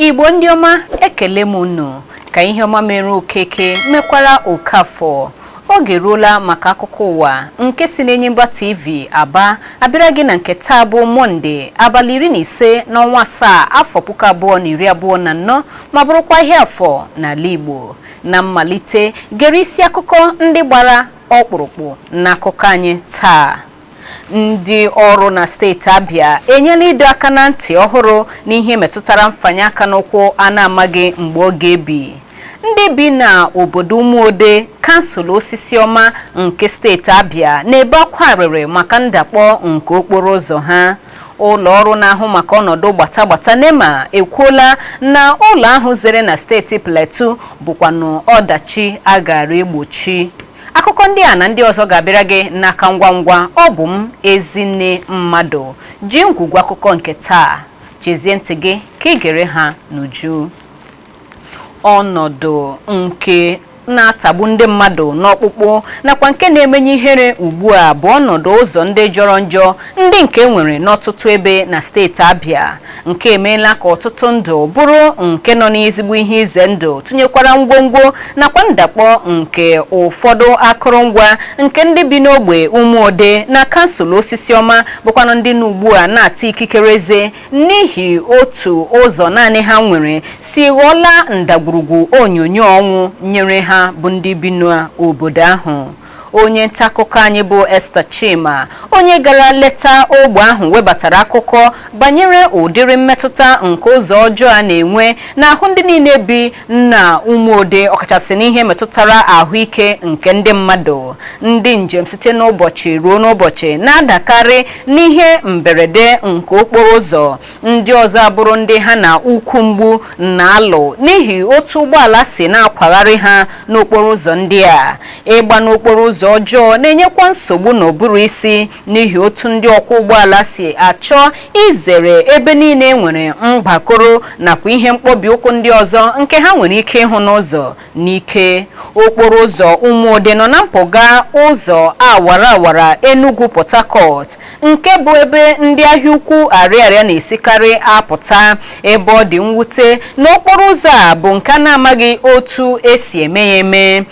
igbo ndị ọma ekele m unu ka ihe ọma mere okeke mekwara okafọ Oge eruola maka akụkọ ụwa nke si n'Enyimba TV Aba abịara gị na nke taa bụ Mọnde abalị iri na ise n'ọnwa asaa afọ puku abụọ na iri abụọ na anọ ma bụrụkwa ihe afọ n'ala Igbo. Na mmalite, gere isi akụkọ ndị gbara ọkpụrụkpụ n'akụkọ anyị taa. Ndị ọrụ na steeti Abia enyela ịdọ aka na ntị ọhụrụ n'ihe metụtara mfanye aka n'ụkwụ a na-amaghị mgbe ọ ga-ebi. Ndị bi na obodo Umuode, kansụl Osisioma nke steeti Abia na-ebe akwa arịrị maka ndakpọ nke okporo ụzọ ha. Ụlọ ọrụ na-ahụ maka ọnọdụ gbata gbata NEMA ekwuola na ụlọ ahụ zere na steeti Plateau bụkwanụ ọdachi a gaara egbochi. akụkọ ndị a na ndị ọzọ ga-abịara gị n'aka ngwa ngwa ọ bụ m ezinne mmadụ ji ngwugwu akụkọ nke taa chezie ntị gị ka i gere ha n'uju ọnọdụ nke na-atagbu ndị mmadụ n'ọkpụkpụ nakwa nke na-emenye ihere ugbu a bụ ọnọdụ ụzọ ndị jọrọ njọ ndị nke e nwere n'ọtụtụ ebe na steeti Abịa nke emeela ka ọtụtụ ndụ bụrụ nke nọ n'ezigbo ihe ize ndụ tụnyekwara ngwongwo nakwa ndakpọ nke ụfọdụ akụrụngwa nke ndị bi n'ogbe ụmụode na kansụl osisioma bụkwanụ ndị na ugbu a na-ata ikikere eze n'ihi otu ụzọ naanị ha nwere si ghọọla ndagwurugwu onyonyo ọnwụ nyere ha bụ ndị bi n'obodo ahụ onye ntaakụkọ anyị bụ Esther Chima onye gara leta ogbe ahụ webatara akụkọ banyere ụdịrị mmetụta nke ụzọ ọjọọ a na-enwe n'ahụ ndị niile bi na ụmụode ọkachasị n'ihe metụtara ahụike nke ndị mmadụ ndị njem site n'ụbọchị ruo n'ụbọchị na-adakarị n'ihe mberede nke okporo ụzọ ndị ọzọ abụrụ ndị ha na ukwu mgbu na-alụ n'ihi otu ụgbọala si na-akwagharị ha n'okporo ụzọ ndị a ịgba n'okporo ụzọ ọjọọ na-enyekwa nsogbu n'ụbụrụ isi n'ihi otu ndị ọkwọ ụgbọala si achọ izere ebe niile e nwere mgbakoro nakwa ihe mkpọbi ụkwụ ndị ọzọ nke ha nwere ike ịhụ n'ụzọ N'ike, okporo ụzọ Ụmụode nọ na mpụga ụzọ awara awara Enugwu Port Harcourt nke bụ ebe ndị ahịa ukwu Ariaria na-esikarị apụta ebe ọ dị mwute na okporo ụzọ a bụ nke a na-amaghị otu e si eme ya eme.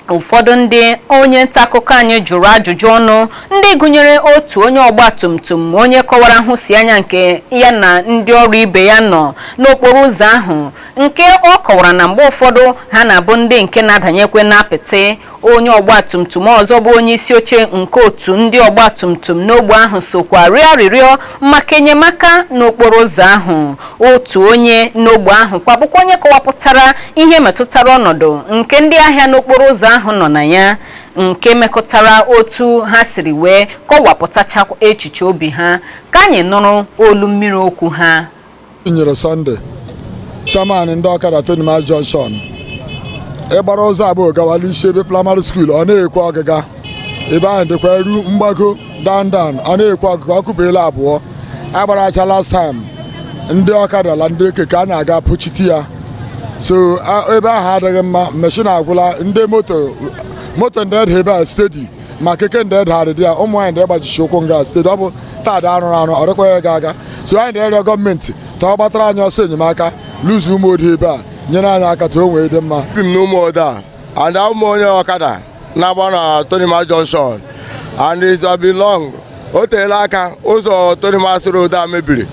Ụfọdụ ndị onye ntaakụkọ anyị jụrụ ajụjụ ọnụ ndị gụnyere otu onye ọgbatumtum onye kọwara nhụsianya nke ya na ndị ọrụ ibe ya nọ n'okporo ụzọ ahụ nke ọ kọwara na mgbe ụfọdụ ha na-abụ ndị nke na-adanyekwe n'apịtị onye ọgbatumtum ọzọ bụ onye isi oche nke otu ndị ọgbatumtum n'ogbe ahụ sokwa rịọ arịrịọ maka enyemaka n'okporo ụzọ ahụ otu onye n'ogbe ahụ kwa bụkwa onye kọwapụtara ihe metụtara ọnọdụ nke ndị ahịa n'okporo ụzọ ahụ nọ na ya nke mekọtara otu ha siri wee kọwapụtacha echiche obi ha ka anyị nụrụ olu mmiri okwu ha nyere sunday chairman ndị ọkada tonimas junction ịgbara ụzọ abụọ gawala isi ebe primary school ọ na-ekwe ọgịga ebe ahụ dịkwa eru mgbago dandan ọ na-ekwe ọgịga o kubiela abụọ agbara acha last time ndị ọkada la ndị keke anyị aga pụchite ya so ebe ahụ adịghị mma meshin agwụla ndị moto ndị ada ebe a steady ma keke ndị adagharị dị ya ụmụ nwanyị ndị agbajisi ụkwụ nga steady ọ bụ taa dị arụrụ arụ ọ dịkwa ya ga aga so anyị na-arịọ gọọmenti ka ọ gbatara anyị ọsọ enyemaka l'ụzọ umuode ebe a nyere anyị aka ka o nwee dị mma bi m n'umuode a and a wụ m onye ọkada na-agba na tonimas junction and it's been long o teela aka ụzọ tonimas road a mebiri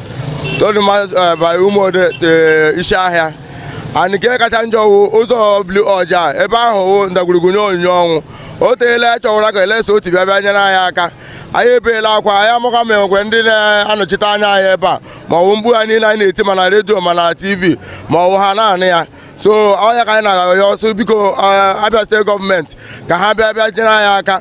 tonimas by umuode isi ahịa and nke kacha njọ wụ ụzọ blu ọja ebe ahụ wụ ndagwurugwu nye onyinyo ọnwụ o teela anyị chọwara ka alex otti bịa bịa nyere anyị aka anyị ebeela akwa anyị amahụkwa ma enwekwe ndị na-anọchite anya anyị ebe a ma ọwụ mkpu a niile anyị na-eti ma na redio ma na tv ma ọwụ ha na-anụ ya so ọ ya ka anyị na-arịọ sị biko abia state government ka ha bịa bịa nyere anyị aka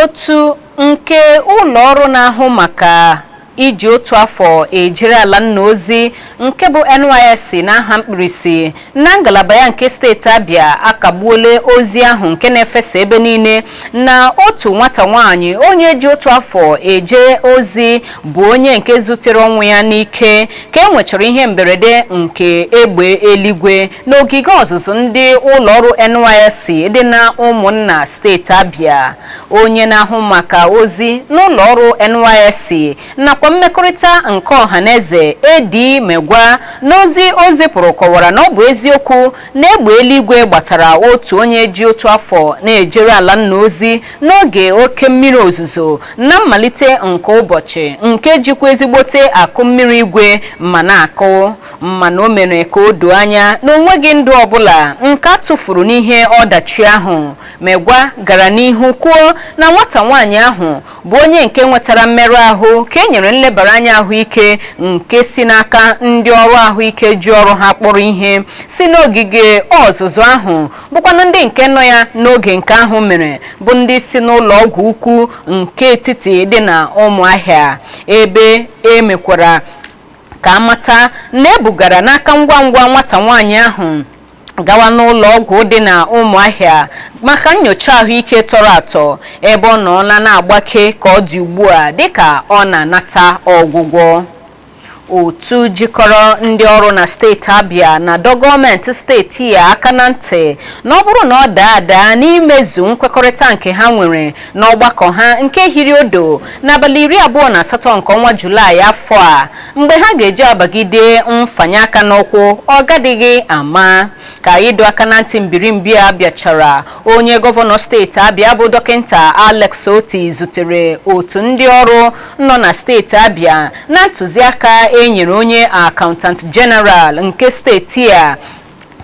Otu nke ụlọ ọrụ na-ahụ maka iji otu afọ ejere ala nna ozi nke bụ NYSC n'aha mkpirisi na ngalaba ya nke steeti Abia akagbuola ozi ahụ nke na-efesa ebe niile na otu nwata nwaanyị onye ji otu afọ eje ozi bụ onye nke zutere ọnwụ ya n'ike ka e nwechara ihe mberede nke egbe eluigwe n'ogige ọzụzụ ndị ụlọ ọrụ NYSC dị na Ụmụnna steeti Abia onye na-ahụ maka ozi n'ụlọ ọrụ NYSC nakwa mmekọrịta nke ọha na eze Eddy Megwa n'ozi o zipụrụ kọwara na ọ bụ eziokwu na egbe eluigwe gbatara otu onye ji otu afọ na-ejere ala nna ozi n'oge oke mmiri ozuzo na mmalite nke ụbọchị nke jikwa ezigbote akụ mmiri igwe ma na-akụ mana o mere ka o doo anya na onweghị ndụ ọbụla nke a tụfuru n'ihe ọdachi ahụ Megwa gara n'ihu kwuo na nwata nwaanyị ahụ bụ onye nke nwetara mmerụ ahụ ka e nyere nlebara anya ahụike nke si n'aka ndị ọrụ ahụike ji ọrụ ha kpọrọ ihe si n'ogige ọzụzụ ahụ bụkwanụ ndị nke nọ ya n'oge nke ahụ mere bụ ndị si n'ụlọ ọgwụ ukwu nke etiti dị na Ụmụahịa ebe e mekwara ka a mata na e bugara n'aka ngwa ngwa nwata nwaanyị ahụ gawa n'ụlọ ọgwụ dị na Ụmụahịa maka nyocha ahụike tọrọ atọ ebe ọ nọla na-agbake ka ọ dị ugbu a dịka ọ na-anata ọgwụgwọ otu jikọrọ ndị ọrụ na steeti Abia na-adọ gọọmenti steeti ya aka na ntị na ọ bụrụ na ọ daa ada n'imezu nkwekọrịta nke ha nwere n'ọgbakọ ha nke hiri odo n'abalị iri abụọ na asatọ nke ọnwa Julaị afọ a mgbe ha ga-eji abagide mfanye aka n'ụkwụ ọ gadịghị ama ka ịdọ aka na ntị mbirimbi a bịachara onye gọvanọ steeti Abia bụ dọkịta Alex Otti zutere otu ndị ọrụ nọ na steeti Abia na ntụziaka e nyere onye Accountant General nke steeti a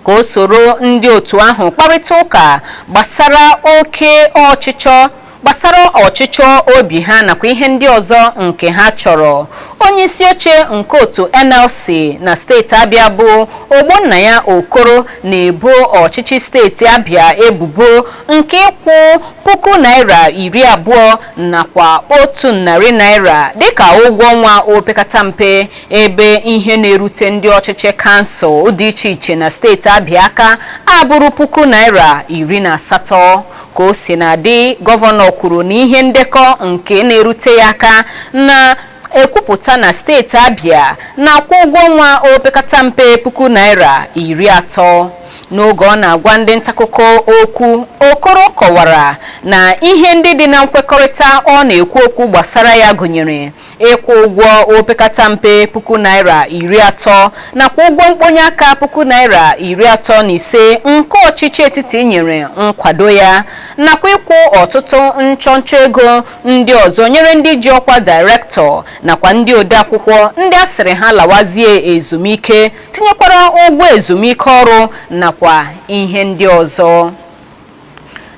ka o soro ndị otu ahụ kparịta ụka gbasara oke ọchịchọ gbasara ọchịchọ obi ha nakwa ihe ndị ọzọ nke ha chọrọ onye isi oche nke otu NLC na steeti Abia bụ Ogbonnaya Okoro na-ebo ọchịchị steeti Abia ebubo nke ịkwụ puku naira iri abụọ nakwa otu narị naira dịka ụgwọ ọnwa opekata mpe ebe ihe na-erute ndị ọchịchị kansụl dị iche iche na steeti Abịa aka abụrụ puku naira iri na asatọ ka o sina dị gọvanọ kwuru na ihe ndekọ nke na-erute ya aka na-ekwupụta na steeti Abịa na-akwụ ụgwọ ọnwa opekata mpe puku naira iri atọ N'oge ọ na-agwa ndị ntaakụkọ okwu, Okoro kọwara na ihe ndị dị na nkwekọrịta ọ na-ekwu okwu gbasara ya gụnyere ịkwụ ụgwọ opekata mpe puku naira iri atọ nakwa ụgwọ mkponye aka puku naira iri atọ na ise nke ọchịchị etiti nyere nkwado ya nakwa ịkwụ ọtụtụ nchọnchọ ego ndị ọzọ nyere ndị ji ọkwa dairektọ nakwa ndị odeakwụkwọ ndị a sịrị ha lawazie ezumike tinyekwara ụgwọ ezumike ọrụ nakwa ihe ndị ọzọ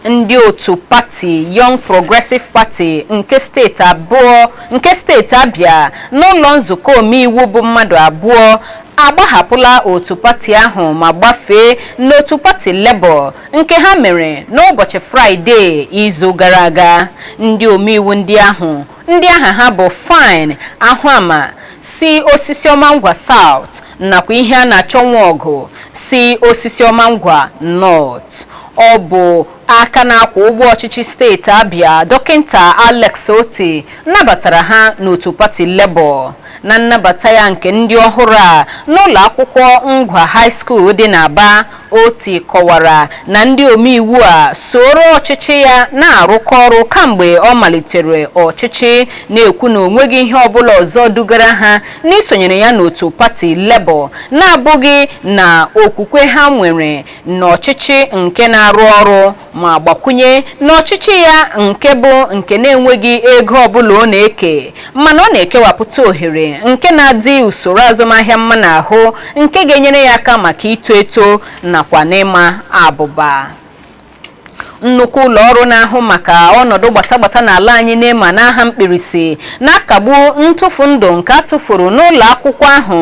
ndị otu pati Young Progressive Party nke steeti Abia n'ụlọ nzukọ omeiwu bụ mmadụ abụọ agbahapụla otu pati ahụ ma gbafee n'otu pati Labour nke ha mere n'ụbọchị Fraịde izu gara aga ndị omeiwu ndị ahụ ndị aha ha bụ Fyne Ahụama si Osisiọma Ngwa South nakwa Iheanachọ Nwọgụ si Osisiọma Ngwa North ọ bụ aka na-akwọ ụgbọ ọchịchị steeti Abia dọkịta Alex Otti nabatara ha n'otu pati Labour na nnabata ya nke ndị ọhụrụ a n'ụlọ akwụkwọ Ngwa High School dị n'Aba Otti kọwara na ndị omeiwu a sooro ọchịchị ya na-arụkọ ọrụ kamgbe ọ malitere ọchịchị, na-ekwu na onweghị ihe ọbụla ọzọ dugara ha n'isonyere ya n'otu pati Labour na-abụghị na okwukwe ha nwere n'ọchịchị nke na-arụ ọrụ ma gbakwunye na ọchịchị ya nke bụ nke na-enweghị ego ọbụla ọ na-eke mana ọ na-ekewapụta ohere nke na-adị usoro azụmahịa mma n'ahụ nke ga-enyere ya aka maka ito eto nakwa n'ịma abụba nnukwu ụlọ ọrụ na-ahụ maka ọnọdụ gbatagbata n'ala anyị NEMA n'aha mkpirisi na-akagbu ntụfu ndụ nke a tụfuru n'ụlọ akwụkwọ ahụ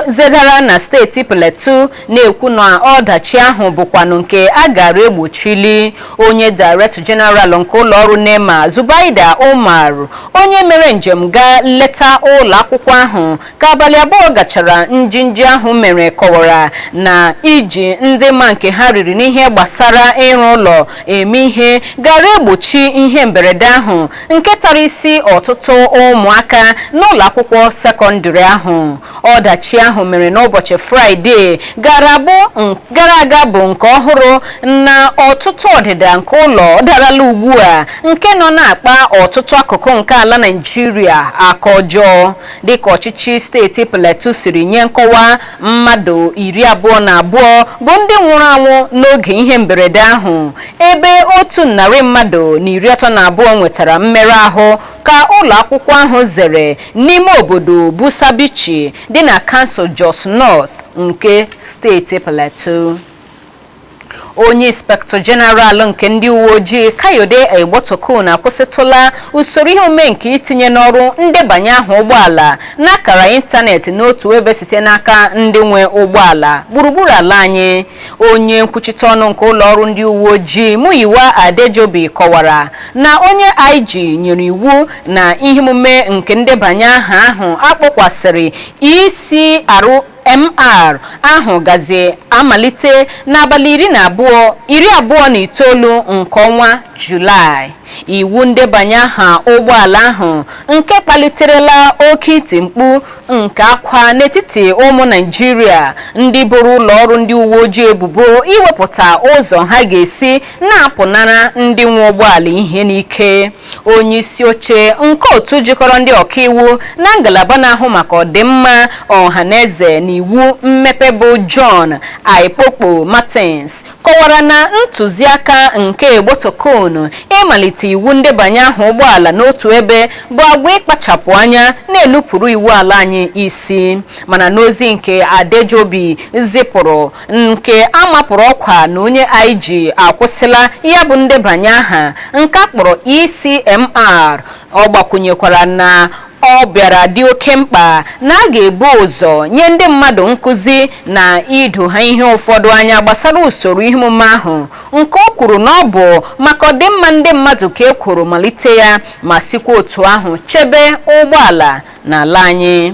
zedara na steeti Plateau na-ekwu na ọdachi ahụ bụkwanụ nke a gaara egbochili onye Director General nke ụlọọrụ NEMA Zubaida Umar onye mere njem gaa leta ụlọ akwụkwọ ahụ ka abalị abụọ gachara njinji ahụ mere kọwara na iji ndị ma nke ha riri n'ihe gbasara ịrụ ụlọ eme ihe gaara egbochi ihe mberede ahụ nke tara isi ọtụtụ ụmụaka n'ụlọ akwụkwọ sekọndịrị ahụ ọdachi ahụ mere n'ụbọchị fraịde gara aga bụ nke ọhụrụ na ọtụtụ ọdịda nke ụlọ darala ugbu a nke nọ na-akpa ọtụtụ akụkụ nke ala Naịjirịa aka ọjọọ dịka ọchịchị steeti Plateau siri nye nkọwa mmadụ iri abụọ na abụọ bụ ndị nwụrụ anwụ n'oge ihe mberede ahụ ebe otu narị mmadụ na iri atọ na abụọ nwetara mmerụ ahụ ka ụlọakwụkwọ ahụ zere n'ime obodo Busa Buji dị na kansụl Jos North nke steeti Plateau. Onye Inspektọ Jeneral nke ndị uweojii Kayode Egbetokun akwụsịtụla usoro ihe omume nke itinye n'ọrụ ndebanye aha ụgbọala n'akara ịntanetị n'otu ebe site n'aka ndị nwe ụgbọala gburugburu ala anyị Onye nkwuchite ọnụ nke ụlọọrụ ndị uweojii Muyiwa Adejobi kọwara na onye IG nyere iwu na ihe omume nke ndebanye aha ahụ a kpọkwasịrị ECRMR ahụ gazi amalite n'abalị iri abụọ na itoolu nke ọnwa Julaị. Iwu ndebanye aha ụgbọala ahụ nke kpaliterela oke iti mkpu nke akwa n'etiti ụmụ Naịjirịa ndị boro ụlọọrụ ndị uwe ojii ebubo iwepụta ụzọ ha ga-esi na-apụnara ndị nwe ụgbọala ihe n'ike onye isi oche nke otu jikọrọ ndị ọkaiwu na ngalaba na-ahụ maka ọdịmma ọha na eze na iwu mmepe bụ John Aikpokpo Martins kọwara na ntụziaka nke Egbetokun ịmalite iwu ndebanye aha ụgbọala n'otu ebe bụ agwa ịkpachapụ anya na-elupụrụ iwu ala anyị isi mana n'ozi nke Adejobi zipụrụ nke a mapụrụ ọkwa na onye IG akwụsịla ya bụ ndebanye aha nke a kpọrọ ECMR Ọ gbakwụnyekwara na ọ bịara dị oke mkpa na a ga-ebu ụzọ nye ndị mmadụ nkụzi na ido ha ihe ụfọdụ anya gbasara usoro ihe omume ahụ nke o kwuru na ọ bụ maka ọdịmma ndị mmadụ ka e kworo malite ya ma sikwa otu ahụ chebe ụgbọala n'ala anyị.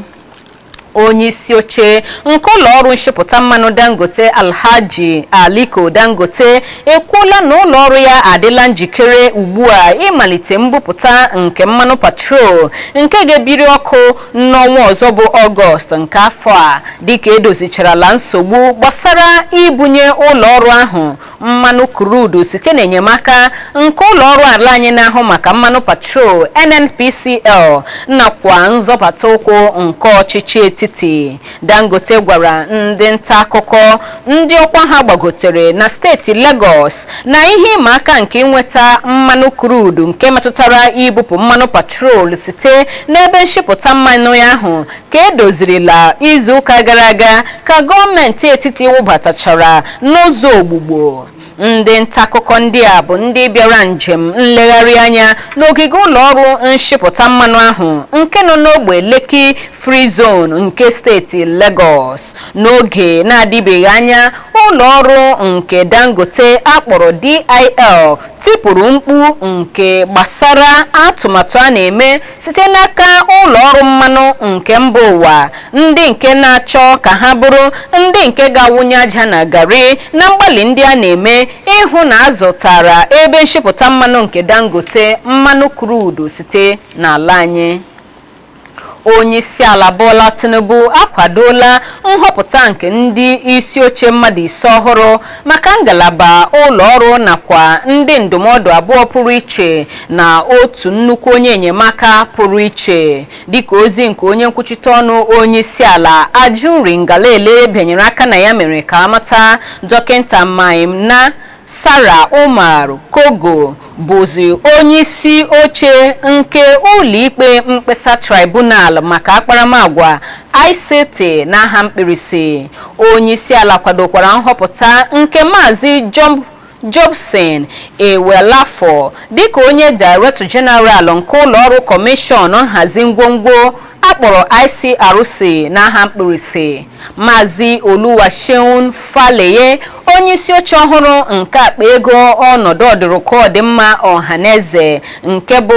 Onyeisioche nke ụlọọrụ nshipụta mmanụ Dangote Alhaji Aliko Dangote ekwuola na ụlọọrụ ya adịla njikere ugbua ịmalite mbupụta nke mmanụ patrol nke ga-ebiri ọkụ n'ọnwa ọzọ bụ Ọgọst nke afọ a dịka e dozicharala nsogbu gbasara ibunye ụlọọrụ ahụ mmanụ krudu site n'enyemaka nke ụlọ ọrụ ala anyị na-ahụ maka mmanụ patrol NNPCL nakwa nzọbata ụkwụ nke ọchịchị etiti Dangote gwara ndị nta akụkọ ndị ọkwa ha gbagotere na steeti Lagos na ihe ịma aka nke inweta mmanụ krudu nke metụtara ibupụ mmanụ patrol site n'ebe nshipụta mmanụ ya ahụ ka e dozirila izuụka gara aga ka gọọmenti etiti wụbatachara n'ụzọ ogbugbo ndị ntaakụkọ ndị a bụ ndị bịara njem nlegharị anya n'ogige ụlọọrụ nshipụta mmanụ ahụ nke nọ n'ogbe Lekki Free Zone nke steeti Lagos n'oge na-adịbeghị anya ụlọọrụ nke Dangote a kpọrọ DIL tipụrụ mkpu nke gbasara atụmatụ a na-eme site n'aka ụlọ ọrụ mmanụ nke mba ụwa ndị nke na-achọ ka ha bụrụ ndị nke ga-awụnye aja na garị na mgbalị ndị a na-eme ịhụ na a zụtara ebe nshipụta mmanụ nke Dangote mmanụ krudu site n'ala anyị onyeisiala Bola Tinubu akwadola nhọpụta nke ndị isi oche mmadụ ise ọhụrụ maka ngalaba ụlọ ọrụ nakwa ndị ndụmọdụ abụọ pụrụ iche na otu nnukwu onye enyemaka pụrụ iche dịka ozi nke onye nkwuchite ọnụ onye isi ala Ajuri Ngelale bịanyere aka na ya mere ka a mata dọkịta Mainasara Umar Kogo bụzi onye isi oche nke ụlọikpe mkpesa tribunal maka akparamagwa ICT n'aha mkpirisi onye isi ala kwadokwara nhọpụta nke maazị Jobson Ewalefoh dịka onye Director General nke ụlọọrụ Kọmishọn nhazi ngwongwo A kpọrọ ICRC n'aha mkpirisi. Maazị Oluwaseun Faleye, onyeisi oche ọhụrụ nke akpa ego ọnọdụ ọdụrụkọ ọdịmma ọhaneze nke bụ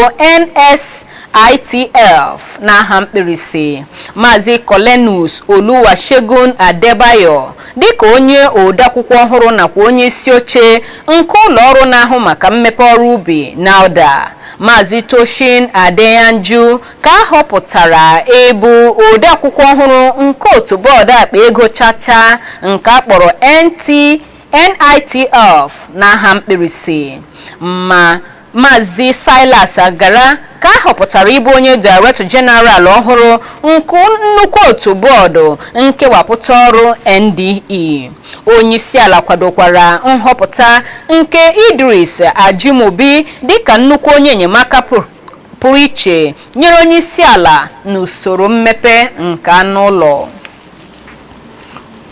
NSITF n'aha mkpirisi. Maazị Cornelius Oluwasegun Adebayo dịka onye odeakwụkwọ ọhụrụ nakwa onyeisi oche nke ụlọ ọrụ na-ahụ maka mmepe ọrụ ubi NALDA. Maazị Tosin Adeyanju ka a họpụtara ịbụ odeakwụkwọ ọhụrụ nke otu bọọdụ akpa ego chacha nke a kpọrọ NT NITF n'aha mkpirisi ma Maazị Silas Agara ka a họpụtara ịbụ onye Director General ọhụrụ nke nnukwu otu bọọdụ nkewapụta ọrụ NDE. Onyeisiala kwadokwara nhọpụta nke Idris Ajimobi dịka nnukwu onye enyemaka pụrụ iche nyere onye isi ala n'usoro mmepe nke anụ ụlọ.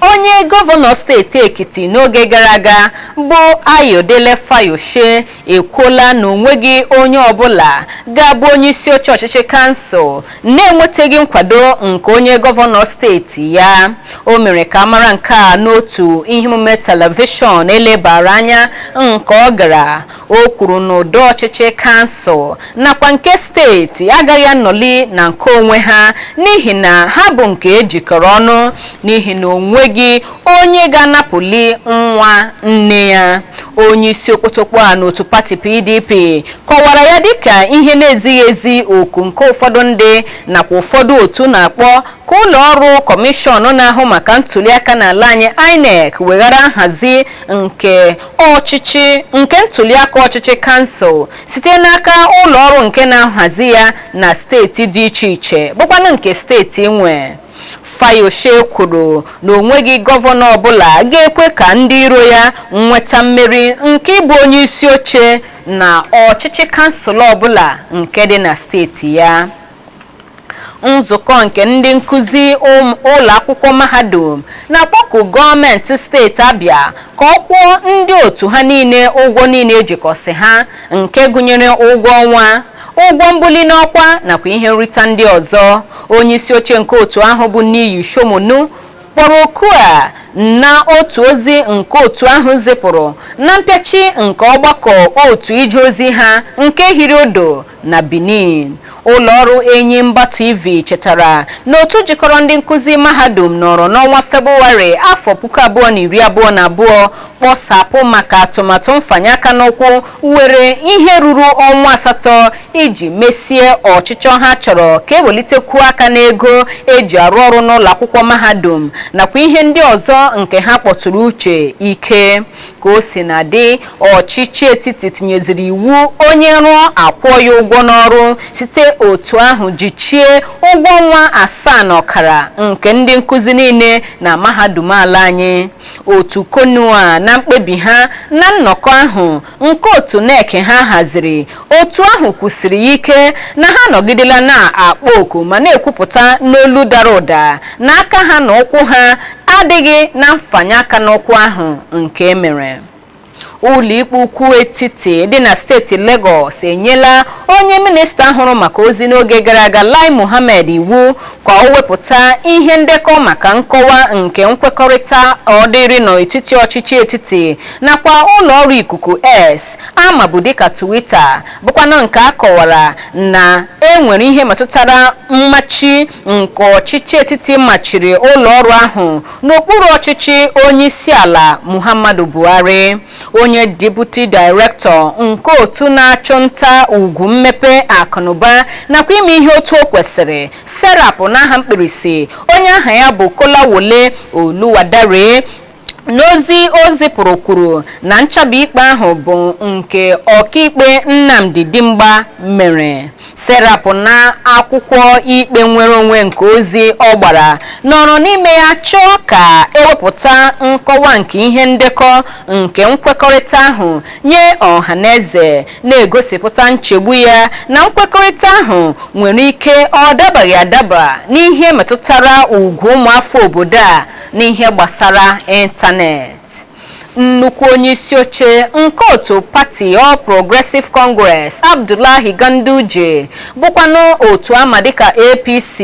Onye gọvanọ steeti Ekiti n'oge gara aga bụ Ayodele Fayose ekwuola na onweghị onye ọbụla ga-abụ onye isi oche ọchịchị kansụl na-enwetaghị nkwado nke onye gọvanọ steeti ya. O mere ka a mara nke a n'otu ihe omume telivishọn elebara anya nke ọ gara O kwuru na ụdọ ọchịchị kansụl nakwa nke steeti agaghị anọli na nke onwe ha n'ihi na ha bụ nke ejikọrọ ọnụ n'ihi na onweghị onye ga-anapụli nwa nne ya. Onye isi okpotokpo a n'otu pati PDP kọwara ya dịka ihe na-ezighị ezi oku nke ụfọdụ ndị nakwa ụfọdụ otu na-akpọ ka ụlọ ọrụ kọmishọn na-ahụ maka ntuliaka n'ala anyị INEC weghara nhazi nke ọchịchị nke ntuliaka ọchịchị kansụl site n'aka ụlọ ọrụ nke na-ahazi ya na steeti dị iche iche bụkwanụ nke steeti nwe Fayose kwuru na onweghị gọvanọ ọbụla ga-ekwe ka ndị iro ya nweta mmeri nke ịbụ onye isi oche na ọchịchị kansụl ọbụla nke dị na steeti ya Nzukọ nke ndị nkuzi ụlọakwụkwọ mahadum na-akpọku gọọmentị steeti Abia ka ọ kwụọ ndị otu ha niile ụgwọ niile ejikọsị ha nke gụnyere ụgwọ ọnwa, ụgwọ mbuli n'ọkwa nakwa ihe nrita ndị ọzọ. Onyeisioche nke otu ahụ bụ Niyi Sunmonu kpọrọ oku a na otu ozi nke otu ahụ zipụrụ na mpịachi nke ọgbakọ otu ije ozi ha nke hiri odo na Benin ụlọọrụ Enyimba TV chetara na otu jikọrọ ndị nkụzi mahadum nọrọ n'ọnwa Febụwarị afọ puku abụọ na iri abụọ na abụọ kpọsapụ maka atụmatụ mfanye aka n'ụkwụ were ihe ruru ọnwa asatọ iji mesie ọchịchọ ha chọrọ ka ewelitekwuo aka n'ego eji arụ ọrụ n'ụlọ akwụkwọ mahadum nakwa ihe ndị ọzọ nke ha kpọtụrụ uche ike ka o si na dị ọchịchị etiti tinyeziri iwu onye rụọ akwụọ ya ụgwọ n'ọrụ site otu ahụ jichie ụgwọ ọnwa asaa na ọkara nke ndị nkụzi niile na mahadum ala anyị otu CONUA na mkpebi ha na nnọkọ ahụ nke otu NEC ha haziri Otu ahụ kwusiri ya ike na ha anọgidela na-akpọ oku ma na-ekwupụta n'olu dara ụda na aka ha na ụkwụ ha adịghị na mfanye aka n'ụkwụ ahụ nke e mere. Ụlọikpe Ukwu Etiti dị na steeti Legọs enyela onye minista hụrụ maka ozi n'oge gara aga Lai Mohammed iwu ka o wepụta ihe ndekọ maka nkọwa nke nkwekọrịta ọ dịrị n'etiti ọchịchị etiti nakwa ụlọọrụ ikuku X a mabu dịka Twitter bụkwanụ nke a kọwara na e nwere ihe metụtara mmachi nke ọchịchị etiti machiri ụlọọrụ ahụ n'okpuru ọchịchị onyeisiala Muhammadu Buhari. Onye Deputy Director nke otu na-achụ nta ugwu mmepe akụnụba nakwa ime ihe otu o kwesịrị SERAP n'aha mkpirisi onye aha ya bụ Kolawole Oluwadare n'ozi o zipụrụ kwuru na nchabi ikpe ahụ bụ nke ọkaikpe Nnamdi Dimgba mere SERAP na akwụkwọ ikpe nnwere onwe nke ozi ọ gbara nọrọ n'ime ya chọọ ka ewepụta nkọwa nke ihe ndekọ nke nkwekọrịta ahụ nye ọha na eze na-egosipụta nchegbu ya na nkwekọrịta ahụ nwere ike ọ dabaghị adaba n'ihe metụtara ugwu ụmụafọ obodo a n'ihe gbasara ịntanetị nnukwu onye isi oche nke otu pati All Progressive Congress Abdullahi Ganduje bụkwanụ otu a ma dịka APC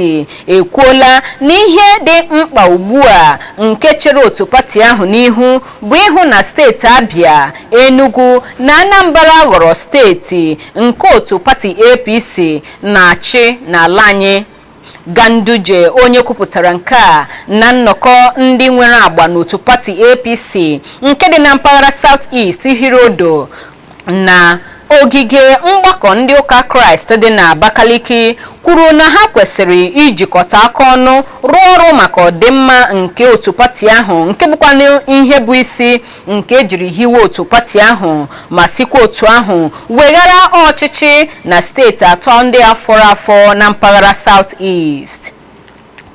ekwuola na ihe dị mkpa ugbu a nke chere otu pati ahụ n'ihu bụ ịhụ na steeti Abia Enugu na Anambra ghọrọ steeti nke otu pati APC na-achị n'ala anyị Ganduje onye kwupụtara nke a na nnọkọ ndị nwere agba n'otu pati APC nke dị na mpaghara South East hiri odo na ogige mgbakọ ndị ụka Kraịst dị na Abakaliki kwuru na ha kwesịrị ijikọta aka ọnụ rụọ ọrụ maka ọdịmma nke otu pati ahụ nke bụkwanụ ihe bụ isi nke ejiri hiwe otu pati ahụ ma sikwa otu ahụ weghara ọchịchị na steeti atọ ndị a fọrọ afọ na mpaghara South East.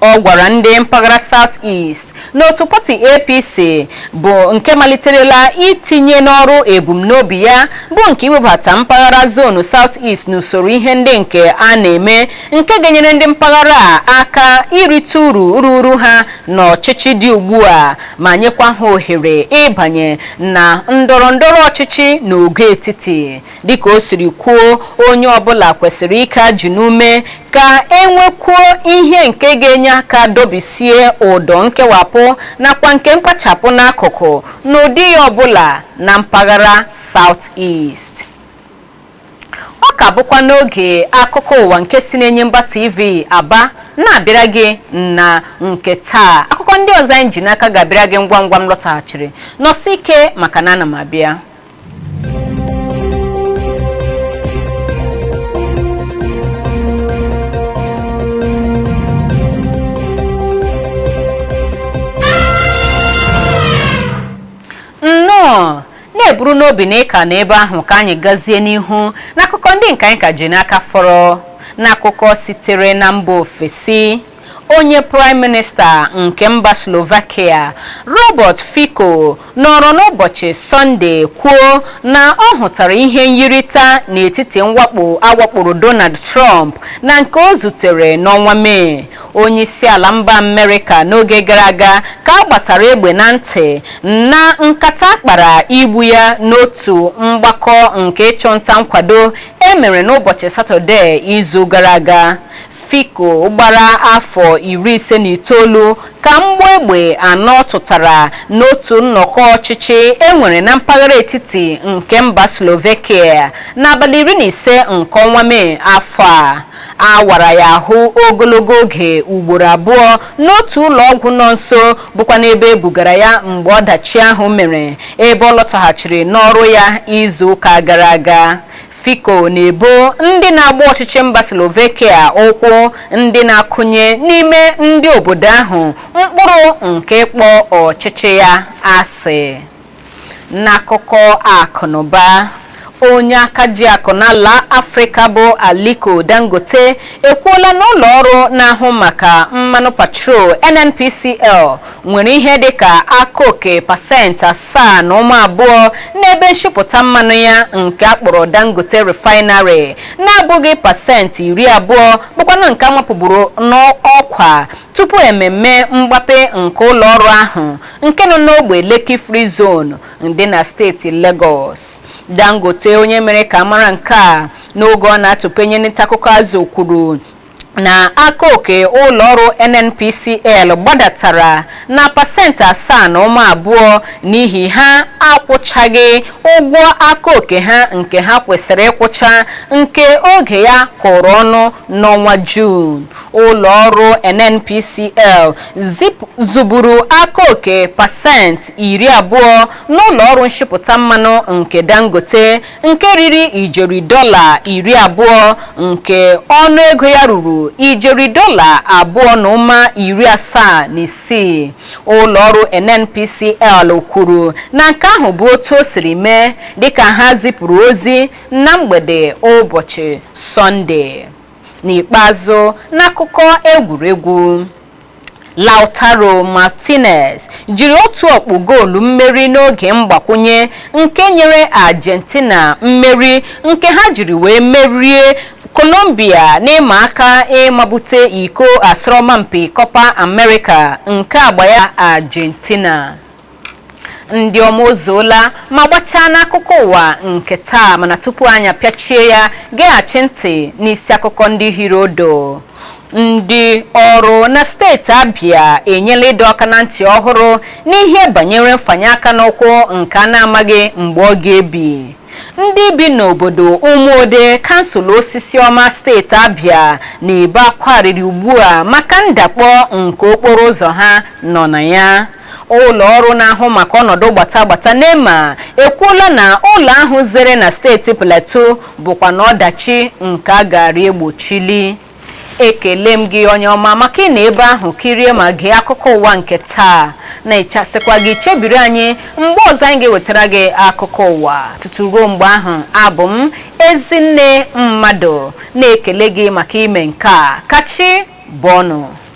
Ọ gwara ndị mpaghara South East na otu pati APC bụ nke maliterela itinye n'ọrụ ebumnobi ya bụ nke iwebata mpaghara zonu South East n'usoro ihe ndị nke a na-eme nke ga-enyere ndị mpaghara a aka irite uru ruru ha n'ọchịchị dị ugbu a ma nyekwa ha ohere ịbanye na ndọrọ ndọrọ ọchịchị n'ogo etiti dịka o siri kwuo onye ọbụla kwesịrị ike ajị n'ume ka enwekwuo ihe nke ga-enye aka dọbisie ụdọ nkewapụ nakwa nke mkpachapụ n'akụkụ n'ụdị ya ọbụla na mpaghara South East ọ ka bụkwa n'oge akụkọ ụwa nke si n'enyimba tv aba na-abịara gị na nke taa akụkọ ndị ọzọ anyị ji n'aka ga-abịara gị ngwa ngwa m lọtaghachiri nọsi ike maka na ana m abịa na-eburu n'obi na ị ka nọ ebe ahụ ka anyị gazie n'ihu n'akụkọ ndị nke anyị ka ji n'aka fọrọ n'akụkọ sitere na mba ofesi onye praịm minista nke mba slovakia robert fico nọrọ n'ụbọchị sọnde kwuo na ọ hụtara ihe nyirịta n'etiti mwakpo awakporo donald trump na nke o zutere n'ọnwa mee Onyeisiala mba Amerịka n'oge gara aga ka a gbatara egbe na ntị na nkata a kpara igbu ya n'otu mgbakọ nke ịchụnta nkwado e mere n'ụbọchị Satọde izu gara aga. Fico gbara afọ iri ise na itoolu ka mgbọ egbe anọ tụtara n'otu nnọkọ ọchịchị e nwere na mpaghara etiti nke mba Slovakia n'abalị iri na ise nke ọnwa Mee afọ a. a wara ya ahụ ogologo oge ugboro abụọ n'otu ụlọ ọgwụ nọ nso bụkwanụ ebe e bugara ya mgbe ọdachi ahụ mere ebe ọ lọtaghachiri n'ọrụ ya izu ụka gara aga Fico na-ebo ndị na-agba ọchịchị mba Slovakia ụkwụ ndị na-akụnye n'ime ndị obodo ahụ mkpụrụ nke ịkpọ ọchịchị ya asị N'akụkọ akụnụba, onye aka ji akụ n'ala Afrịka bụ Aliko Dangote ekwuola na ụlọ ọrụ na-ahụ maka mmanụ petrol NNPCL nwere ihe dịka aka oke pasentị asaa na ụma abụọ n'ebe nshipụta mmanụ ya nke a kpọrọ Dangote Refinery na-abụghị pasentị iri abụọ bụkwanụ nke a mapụburu n'ọkwa Tupu ememme mgbape nke ụlọọrụ ahụ nke nọ n'ogbe Lekki Free Zone dị na steeti Legọs, Dangote onye mere ka a mara nke a n'oge ọ na-atụpenye ntaakụkọ azụ kwuru na aka oke ụlọọrụ NNPCL gbadatara na pasentị asaa na ụma abụọ n'ihi ha akwụchaghị ụgwọ aka oke ha nke ha kwesịrị ịkwụcha nke oge ya kụrụ ọnụ n'ọnwa Juun. ụlọọrụ NNPCL zụburu aka oke pasentị iri abụọ n'ụlọọrụ nshipụta mmanụ nke Dangote nke riri ijeri dọla iri abụọ nke ọnụ ego ya ruru ijeri dọla abụọ na ụma iri asaa na isii ụlọọrụ NNPCL kwuru na nke ahụ bụ otu o siri mee dịka ha zipụrụ ozi na mgbede ụbọchị Sọnde N'ikpeazụ, n'akụkọ egwuregwu, Lautaro Martinez jiri otu ọkpụ goolu mmeri n'oge mgbakwụnye nke nyere Argentina mmeri nke ha jiri wee merie Colombia n'ịma aka ịmabute iko asọrọmpi Copa America nke agba ya Argentina. ndị ọma o zuola ma gbachaa n'akụkọ ụwa nke taa mana tupu anyị apịachie ya geghachi ntị n'isi akụkọ ndị hiri odo ndị ọrụ na steeti abịa enyela ịdọ aka na ntị ọhụrụ n'ihe banyere mfanye aka n'ụkwụ nke a na-amaghị mgbe ọ ga-ebi ndị bi n'obodo ụmụode kansụl osisiọma steeti abịa na-ebe akwa arịrị ugbu a maka ndakpọ nke okporo ụzọ ha nọ na ya Ụlọ ọrụ na-ahụ maka ọnọdụ gbata gbata NEMA ekwuola na ụlọ ahụ zere na steeti Plateau bụkwanụ ọdachi nke a gaara egbochili. Ekele m gị onye ọma maka ịnọ ebe ahụ kirie ma gee akụkọ ụwa nke taa na-echasịkwa gị chebiri anyị mgbe ọzọ anyị ga-ewetara gị akụkọ ụwa tutu ruo mgbe ahụ abụ m Ezinne Mmadụ na-ekele gị maka ime nke a ka chi bọọ nụ